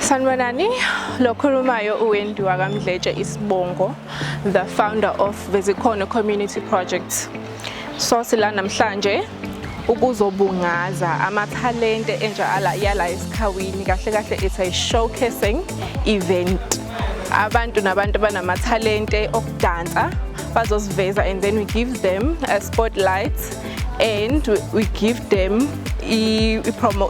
Sanibonani, lo khulumayo uwendiwa kaMdletshe Isibongo, the founder of Bezikhona Community Project. So sila namhlanje ukuzobungaza amathalente entsha ala yala esikhawini kahle kahle it's a showcasing event abantu nabantu banamathalente okudansa bazosiveza and then we give them a spotlight and we give them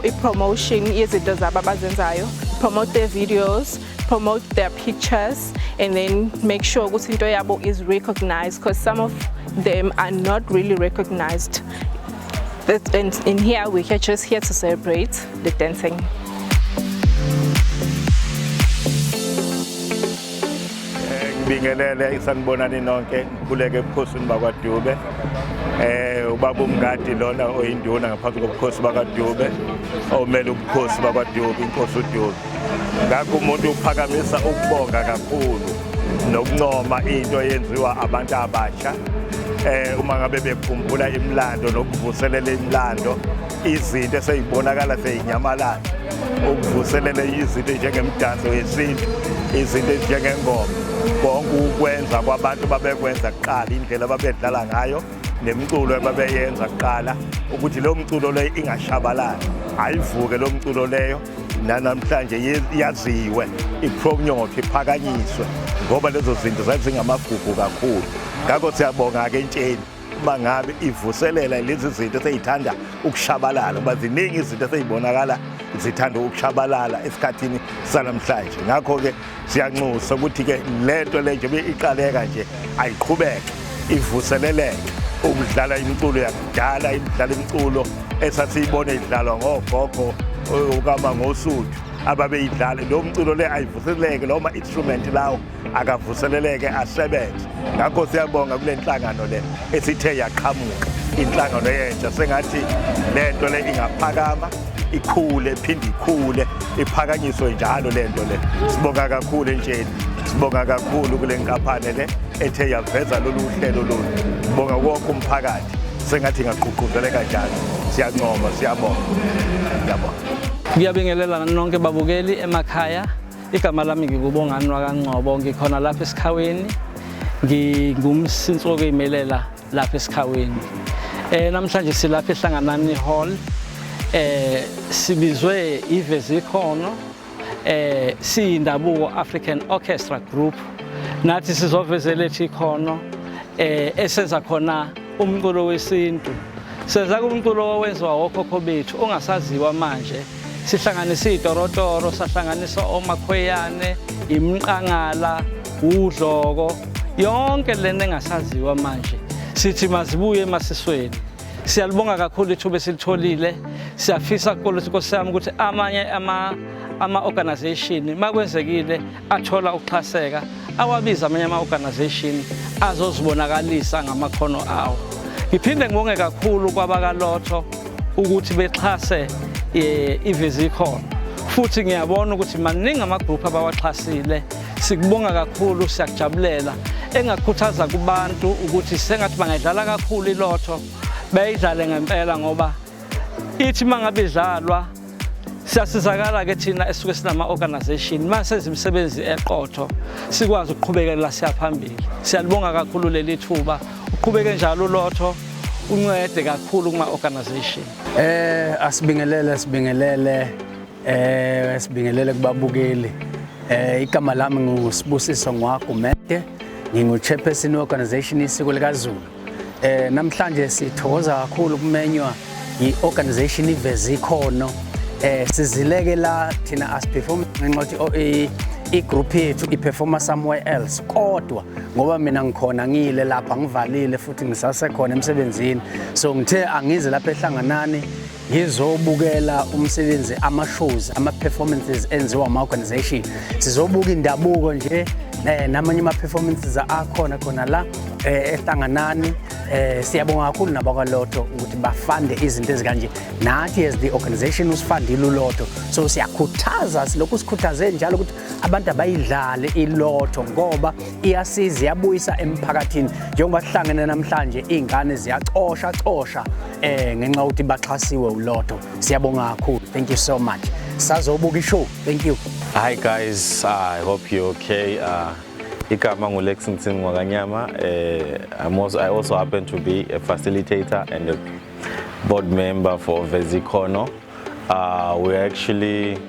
i-promotion yezinto zabo abazenzayo promote their videos promote their pictures and then make sure ukuthi into yabo is recognized because some of them are not really recognized that, and in here we are just here to celebrate the dancing. ngibingelele isanibonani nonke ngikhuleke ebukhosini bakwadube eh ubaba umngadi lona oyinduna ngaphansi kobukhosi bakadube omele ubukhosi bakwadube inkosi udube ngakho umuntu uphakamisa ukubonga kakhulu nokuncoma into eyenziwa abantu abasha eh uma ngabe bekhumbula imlando nokuvuselela imlando izinto eseyibonakala seyinyamalala ukuvuselela izinto njengemdanso yesintu izinto ezinjengengoma konke ukwenza kwabantu babekwenza kuqala indlela babedlala ngayo nemculo ebabeyenza kuqala ukuthi leyo mculo leyo ingashabalali ayivuke leyo mculo leyo nanamhlanje yaziwe ipromnyotho iphakanyiswe ngoba lezo zinto zazingamagugu kakhulu ngakho siyabonga-ke entsheni uma ngabe ivuselela lezi zinto eseyithanda ukushabalala ngoba ziningi izinto eseyibonakala zithanda ukushabalala esikhathini sanamhlanje ngakho-ke siyanxusa ukuthi ke lento le njengoba iqaleka nje ayiqhubeke ivuseleleke ukudlala imiculo yakudala imidlala imiculo esasiyibona idlalwa ngogogo okama ngosuthu ababeyidlale lo mculo le ayivuseleleke lo ma-instrument lawo akavuseleleke asebenze ngakho siyabonga kule nhlangano le esithe yaqhamuka inhlangano yentsha sengathi le nto le ingaphakama ikhule iphinde ikhule iphakanyiswe njalo le nto le sibonga kakhulu entsheni sibonga kakhulu kule nkampani le ethe yaveza lolu hlelo lolu sibonga wonke umphakathi sengathi ingaqhuqhuzeleka njalo siyancoma siyabonga yabo ngiyabingelela nonke babukeli emakhaya igama lami ngikubongani wakancobo ngikhona lapha esikhaweni ngingumsinsi wokuyimelela lapha esikhaweni eh namhlanje silapha ehlanganani hall eh sibizwe iveze ikhono eh siyindabuko African Orchestra Group nathi sizovezela ethi ikhono eh esenza khona umculo wesintu senza kumculo owenziwa wokhokho bethu ongasaziwa manje sihlanganisa itorotoro sahlanganisa omakhweyane imqangala udloko yonke lena engasaziwa manje sithi mazibuye emasisweni siyalibonga kakhulu ithuba esilitholile siyafisa kukolisi nkosi yami ukuthi amanye ama-organization uma kwenzekile athola ukuxhaseka awabiza amanye ama-organization azozibonakalisa ngamakhono awo ngiphinde ngibonge kakhulu kwabakalotho ukuthi bexhase eh, ivizikhona futhi ngiyabona ukuthi maningi amagruphu abawaxhasile sikubonga kakhulu siyakujabulela engakhuthaza kubantu ukuthi sengathi bangayidlala kakhulu ilotho bayidlale ngempela ngoba ithi uma ngabe idlalwa siyasizakala-ke thina esuke sinama-organization uma senza imisebenzi eqotho sikwazi ukuqhubekelela siyaphambili siyalibonga kakhulu leli thuba uqhubeke njalo ulotho uncede kakhulu kuma-organization eh asibingelele sibingelele eh sibingelele kubabukeli eh igama lami ngusibusiso ngwagumede ngingu-chairperson we-organization isiko likazulu Eh namhlanje sithokoza kakhulu kumenywa yi-organization iveze ikhono eh sizileke la thina as perform ngenxa ukuthi i-group yethu i-performa somewhere else kodwa ngoba mina ngikhona ngiyile lapha ngivalile futhi ngisasekhona emsebenzini so ngithe angize lapha ehlanganani ngizobukela umsebenzi ama-shows ama-performances enziwa ama-organization sizobuka indabuko nje eh, namanye ama-performances akhona khona la eh, ehlanganani eh, siyabonga kakhulu nabakwaloto ukuthi bafande izinto ezikanje nathi as the organization usifandile uloto so siyakhuthaza silokhu sikhuthaze njalo ukuthi abantu abayidlale iloto ngoba iyasiza iyabuyisa emphakathini njengoba sihlangene namhlanje iy'ngane ziyacosha cosha eh ngenxa yokuthi baxhasiwe uLotto siyabonga kakhulu thank you so much sazobuka ishow thank you hi guys i hope you okay uh igama ngulexington ngwakanyama eh I'm also, i also happen to be a facilitator and a board member for vezikhono uh, we're actually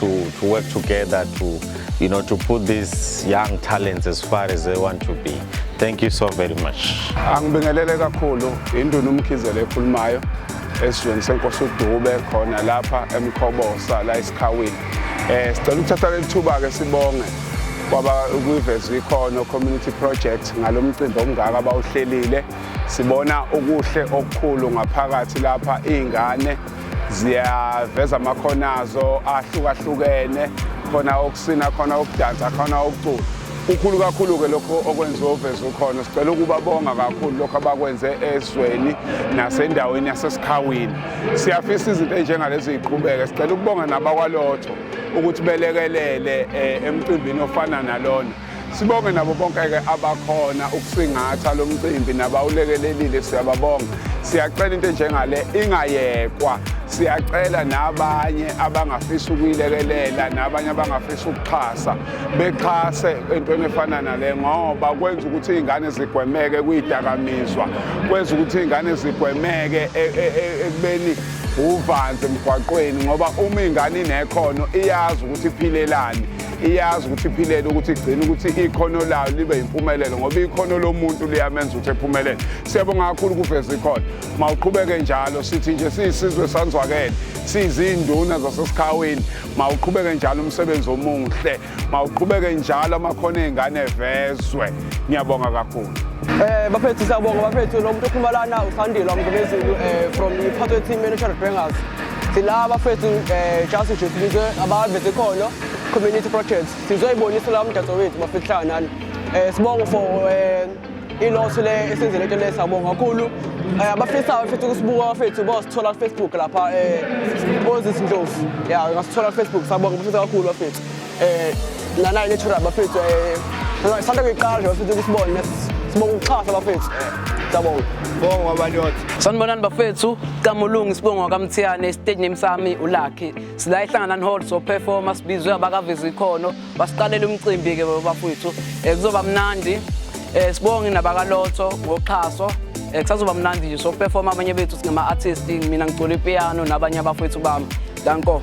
to, to work together to, you know, to put these young talents as far as they want to be. Thank you so very much. Angibingelele kakhulu induna umkhizele ekhulumayo esizweni senkosi uDube khona lapha eMkhobosa la esikhawini. Eh sicela ukuthatha lethuba ke sibonge kwaba kuyivezwa ikhono community project ngalomcimbi omngaka abawuhlelile. Sibona okuhle okukhulu ngaphakathi lapha izingane ziyaveza amakhono azo ahlukahlukene khona okusina khona okudansa khona okucula kukhulu kakhulu-ke lokho okwenziwa uveza ukhona sicela ukubabonga kakhulu lokho abakwenze ezweni nasendaweni yasesikhawini siyafisa izinto ezinjengalezi ziqhubeke sicela ukubonga nabakwalotho ukuthi belekelele um emcimbini ofana nalona Sibonge nabo bonke-ke abakhona ukusingatha lo mcimbi nabawulekelelile siyababonga. Siyacela into enjengale ingayekwa. Siyacela nabanye abangafisa ukuyilekelela nabanye abangafisa ukuxhasa bexhase entweni efana nale ngoba kwenza ukuthi iy'ngane zigwemeke kuyidakamizwa kwenza ukuthi iy'ngane zigwemeke e, e, e, ekubeni uvanzi emgwaqweni ngoba uma ingane inekhono iyazi ukuthi iphilelani iyazi ukuthi iphilele ukuthi igcine ukuthi ikhono layo libe yimpumelelo ngoba ikhono lomuntu liyamenza ukuthi ephumelele siyabonga kakhulu kuveza ikhona mawuqhubeke njalo sithi nje siyisizwe sanzwakele sizinduna zasesikhawini mawuqhubeke njalo umsebenzi omuhle mawuqhubeke njalo amakhono ezingane evezwe ngiyabonga kakhulu Eh baphethu siyabonga baphethu lo muntu okhuluma lana usandile wamgumezulu eh from the Pathway Team Manager Bangers. Sila bafethu eh just nje sibizwe abaveze khona Community project sizoyibonisa la umdanso wethu mafihlanga nani um eh, sibonge for um iloso le esenzele into le siyabonga kakhulu um abafisayo futhi ukusibuka bafethu bosithola kufacebook lapha um bozisi ndlovu ya ngasithola kufacebook siyabonga bafisa kakhulu bafethu um nanayi natural bafethu um sanda kuyiqala nje bafethu ukusibone sibonga ukuxhasa bafethu Siyabonga. Bonga wabanyothi. Sanibonani bafethu, Kamulungi sibonga kwaMthiyane, stage name sami uLucky. sila ehlanganani hall soperforma sibizwe abakaveza ikhono basiqalela umcimbi-ke bafowethu um eh, kuzoba mnandi um sibonge nabakalotho ngoxhaso um kusazoba mnandi nje soperforma abanye bethu singama-artist mina ngicula ipiano nabanye abafowethu bami danko